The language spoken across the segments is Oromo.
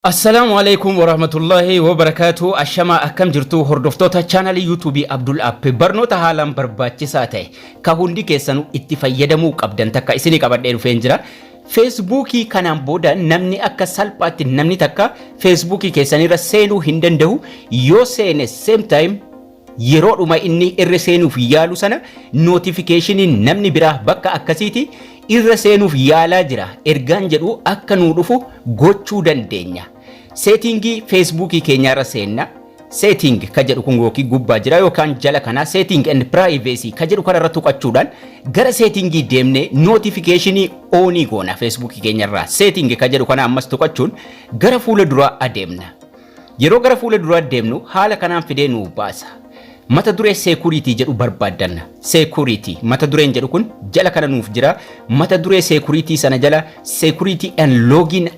Assalaamu Aleeykum Warahmatullaahi Wabarakaatuh Ashamaa akkam jirtu hordoftoota chaanalii yuutuubii Abdul App barnoota haalaan barbaachisaa ta'e ka hundi keessanu itti fayyadamuu qabdan takka isinii qabadhee dhufeen jira feesbuukii kanaan booda namni akka salphaatti namni takka feesbuukii keessanirra seenuu hin danda'u yoo seene same time Yeroodhuma inni irra seenuuf yaalu sana notification'n namni biraa bakka akkasiiti irra seenuuf yaalaa jira ergaan jedhu akka nuu dhufu gochuu dandeenya. Setting Facebook keenyaarra seenna. Setting ka jedhu kun yookiin gubbaa jira yookaan jala kana Setting and Privacy ka jedhu kanarra tuqachuudhaan gara setting deemnee notification on goona Facebook keenyarraa. Setting ka jedhu kana ammas tuqachuun gara fuula duraa adeemna. Yeroo gara fuula duraa deemnu haala kanaan fidee nuu baasa. Mata duree Security jedhu barbaaddanna. Security mata dureen jedhu kun jala kana nuuf jira. Mata duree Security sana jala Security and Login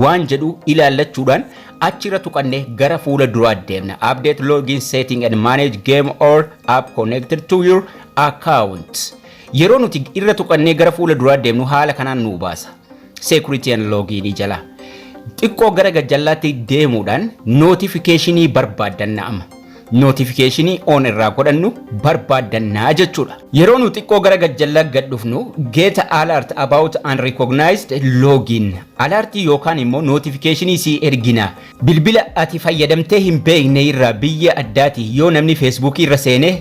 waan jedhu ilaallachuudhaan achirra tuqannee gara fuula duraa deemna. Update login setting and manage game or app connected to your account. Yeroo nuti irra tuqannee gara fuula duraa deemnu haala kanaan nuu baasa. security and login jala xiqqoo gara gajjallaatti deemuudhaan notification barbaaddanna amma notification on irraa godhannu barbaaddanna jechuudha. Yeroo nu xiqqoo gara gajjallaa gad dhufnu get alert about unrecognized login alert yookaan immoo notification si ergina bilbila ati fayyadamtee hin beekne irraa biyya addaati yoo namni feesbuukii irra seenee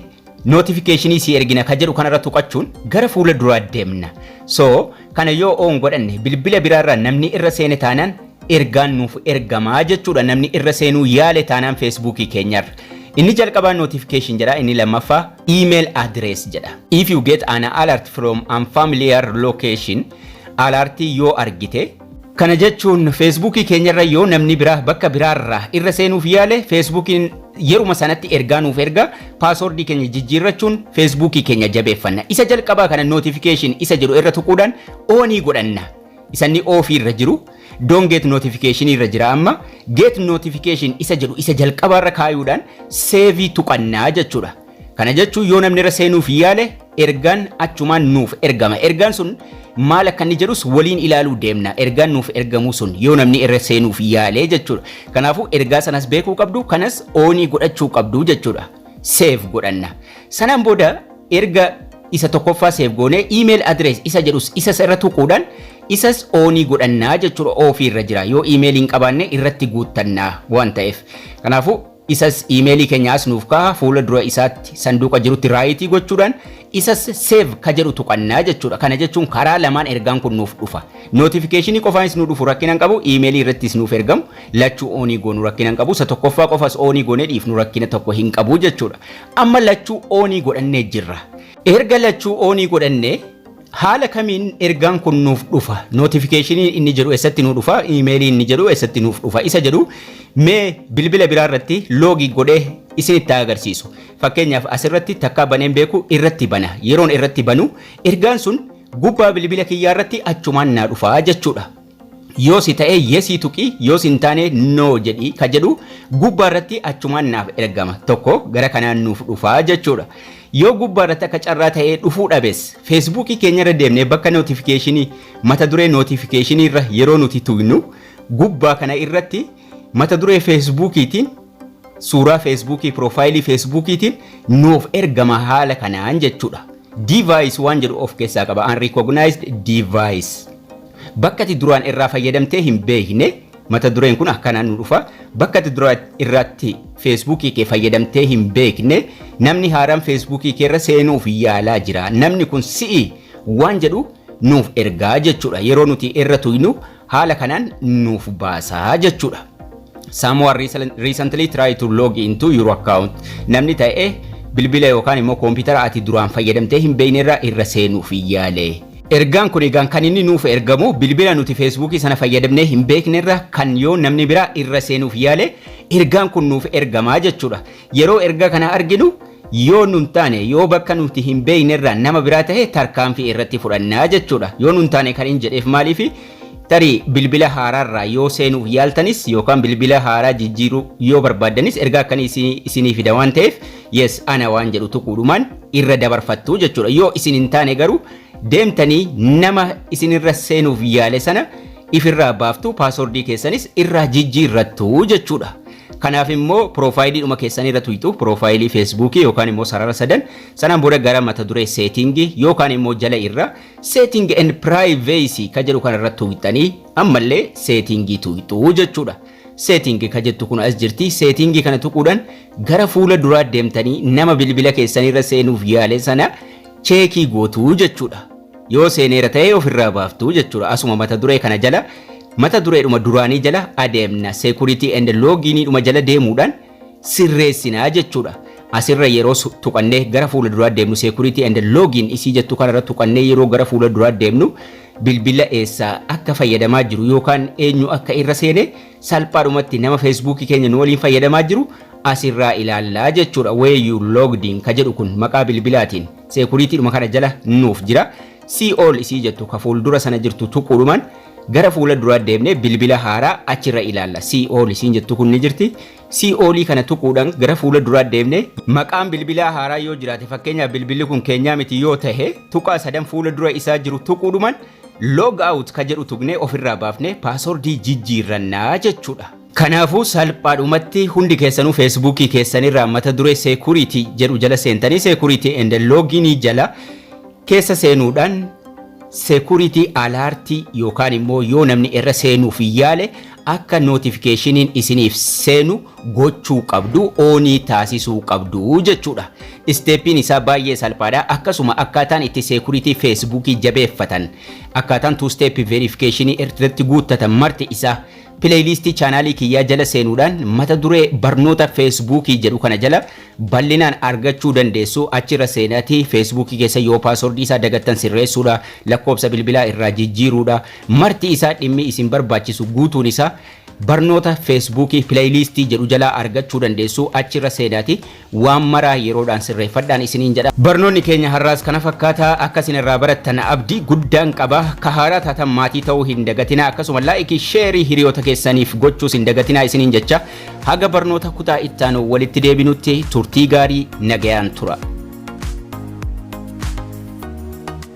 Notification sii ergina ka jedhu kanarra tuqachuun gara fuula duraa deemna. So, kana yoo on godhanne bilbila biraarraa namni irra seene taanaan ergaan nuuf ergama jechuudha namni irra seenuu yaale taanaan Facebook keenyarra. Inni jalqabaa notification jedha inni lammaffaa email address jedha. If you get an alert from unfamiliar location, alartii yoo argite, Kana jechuun feesbuukii keenyarra yoo namni biraa bakka biraarraa irra seenuuf yaale feesbuukiin yeruma sanatti ergaa nuuf erga paasoordii keenya jijjiirrachuun feesbuukii keenya jabeeffanna. Isa jalqabaa kana notification isa jedhu irra tuquudhaan oonii godhanna. Isanni oofii irra jiru don't get notification irra jira amma get notification isa jedhu isa jalqabaarra kaayuudhaan seevii tuqannaa jechuudha. Kana jechuun yoo namni irra seenuuf yaale ergaan achumaan nuuf ergama. Ergaan sun maal akka inni jedhus waliin ilaaluu deemna. Ergaan nuuf ergamuu sun yoo namni irra seenuuf yaale jechuudha. Kanaafuu ergaa sanas beekuu qabdu kanas oonii godhachuu qabdu jechuudha. Seef godhanna. Sanaan booda erga isa tokkoffaa seef goonee email address isa jedhus isas irra tuquudhaan isas oonii godhannaa jechuudha oofii irra jira. Yoo email hin qabaanne irratti guuttannaa waan ta'eef. Kanaafuu Isas iimeelii keenya as nuuf kaaha fuula dura isaatti sanduuqa jirutti raayitii gochuudhaan isas save ka jedhu tuqannaa jechuudha. Kana jechuun karaa lamaan ergaan kun nuuf dhufa. Notification qofaanis nu dhufu rakkina hin qabu, iimeelii irrattis nuuf ergamu lachuu oonii goonu rakkina hin qabu. Isa tokkoffaa qofas oonii goonee dhiifnu rakkina tokko hin qabu jechuudha. Amma lachuu oonii godhannee jirra. Erga lachuu oonii godhannee Haala kamiin ergaan kun nuuf dhufa? Notification inni jedhu eessatti nuu dhufa? Email inni jedhu eessatti nuuf dhufa? Isa jedhu mee bilbila biraa irratti loogii godhee isinitti haa agarsiisu. Fakkeenyaaf asirratti takkaa baneen beeku irratti bana. Yeroon irratti banu ergaan sun gubbaa bilbila kiyyaa irratti achumaan naa dhufa jechuudha. Yoo si ta'ee yesii tuqi yoo sin taane no jedhi ka jedhu gubbaa irratti achumaan naaf ergama tokko gara kanaan nuuf dhufaa jechuudha. Yoo gubbaa irratti akka carraa ta'ee dhufuu dhabes feesbuukii keenya irra deemnee bakka nootifikeeshinii mata duree nootifikeeshinii irra yeroo nuti tuynu gubbaa kana irratti mata duree feesbuukiitiin suuraa feesbuukii piroofaayilii feesbuukiitiin nuuf ergama haala kanaan jechuudha. Device waan jedhu of keessaa qaba unrecognized device. Bakka ati duraan irraa fayyadamtee hin beekne mata dureen kun akkanaan nu dhufa. Bakka ati duraan irraatti feesbuukii kee fayyadamtee hin beekne namni haaraan feesbuukii kee irra seenuuf yaalaa jira. Namni kun si'i waan jedhu nuuf ergaa jechuudha. Yeroo nuti irra tuynu haala kanaan nuuf baasaa jechuudha. someone recent- recently try to log into your account namni ta'e bilbila yookaan immoo koompitara ati duraan fayyadamtee hin beekne irra irra seenuuf yaale. Ergaan kun egaan kan inni nuuf ergamu bilbila nuti feesbuukii sana fayyadamnee hin beekne irra kan yoo namni biraa irra seenuuf yaale ergaan kun nuuf ergamaa jechuudha. Yeroo ergaa kana arginu yoo nun taane yoo bakka nuti hin beeknerraa nama biraa tahe tarkaanfii irratti fudhanna jechuudha. Yoo nun taane kan hin jedheef maaliifi? Tarii bilbila haaraarraa yoo seenuuf yaaltanis yookaan bilbila haaraa jijjiiruu yoo barbaaddanis ergaa akkanii isinii isinii fida waan taheef yes ana waan jedhu tuquudhumaan irra dabarfattu jechuudha. Yoo isin hin taane garuu deemtanii nama isinirra seenuuf yaale sana ifirraa baaftu paaswordii keessanis irraa jijjiirrattu jechuudha. Kanaaf immoo piroofaayilii dhuma keessanii irra tuyxu, piroofaayilii feesbuukii yookaan immoo sarara sadan, sanaan booda gara mata duree seetingi yookaan immoo jala irra setting and privacy ka jedhu kana irra tuyxanii ammallee seetingii tuyxu jechuudha. Setting ka jettu kun as jirti. Seetingii kana tuquudhaan gara fuula duraa deemtanii nama bilbila keessanii irra seenuuf yaale sana cheekii gootu jechuudha. Yoo seeneera ta'e ofirraa baaftu jechuudha. Asuma mata duree kana jala mata dureedhuma duraanii jala adeemna. Security and loginiidhuma jala deemuudhaan sirreessina jechuudha. Asirra yeroo su- tuqannee gara fuula duraa deemnu security and login isii jettu kanarra tuqannee yeroo gara fuula duraa deemnu bilbila eessaa akka fayyadamaa jiru yookaan eenyu akka irra seene salphaadhumatti nama feesbuukii keenya nu waliin fayyadamaa jiru asirraa ilaallaa jechuudha. Where you logged in ka jedhu kun maqaa bilbilaatiin Seekuriitiidhuma kana jala nuuf jira. Sii ol isii jettu ka fuuldura sana jirtu tuquudhumaan gara fuula duraa deemnee bilbila haaraa achirra ilaalla. Sii ol isiin jettu kun ni jirti. Sii olii kana tuquudhaan gara fuula duraa deemnee maqaan bilbilaa haaraa yoo jiraate fakkeenyaaf bilbilli kun keenyaa miti yoo tahe tuqaa sadan fuula dura isaa jiru tuquudhumaan log out ka jedhu tuqnee ofirraa baafnee paasoordii jijjiirrannaa jechuudha. Kanaafuu salphaadhumatti hundi keessanuu feesbuukii keessanirraa mata duree security jedhu jala seentanii security and login jala keessa seenuudhaan security alert yookaan immoo yoo namni irra seenuuf yaale akka notificationin isiniif seenu gochuu qabdu oonii taasisuu qabdu jechuudha. Isteeppiin isaa baay'ee salphaadha. Akkasuma akkaataan itti security feesbuukii jabeeffatan akkaataan two step verification irratti guuttatan marti isaa Pileeyliistii chaanaalii kiyyaa jala seenuudhaan mata duree Barnoota Feesbuukii jedhu kana jala bal'inaan argachuu dandeessu. Achi irra seenaatii Feesbuukii keessan yoo paaswordii isaa dagattan sirreessuudha, lakkoofsa bilbilaa irraa jijjiiruudha. Marti isaa dhimmi isin barbaachisu guutuun isaa Barnoota Feesbuukii Pileeyliistii jedhu jalaa argachuu dandeessu. Achi irra seenaatii Waan mara yeroodhaan sirreeffadhaan isiniin jedha. Barnoonni keenya har'aas kana fakkaata. Akka isin irraa barattan abdii guddaan qaba. Ka haaraa taatan maatii ta'uu hin dagatinaa akkasuma laayikii, sheerii hiriyoota keessaniif gochuus hin dagatinaa isiniin jecha haga barnoota kutaa ittaanu walitti deebinutti turtii gaarii nagayaan tura.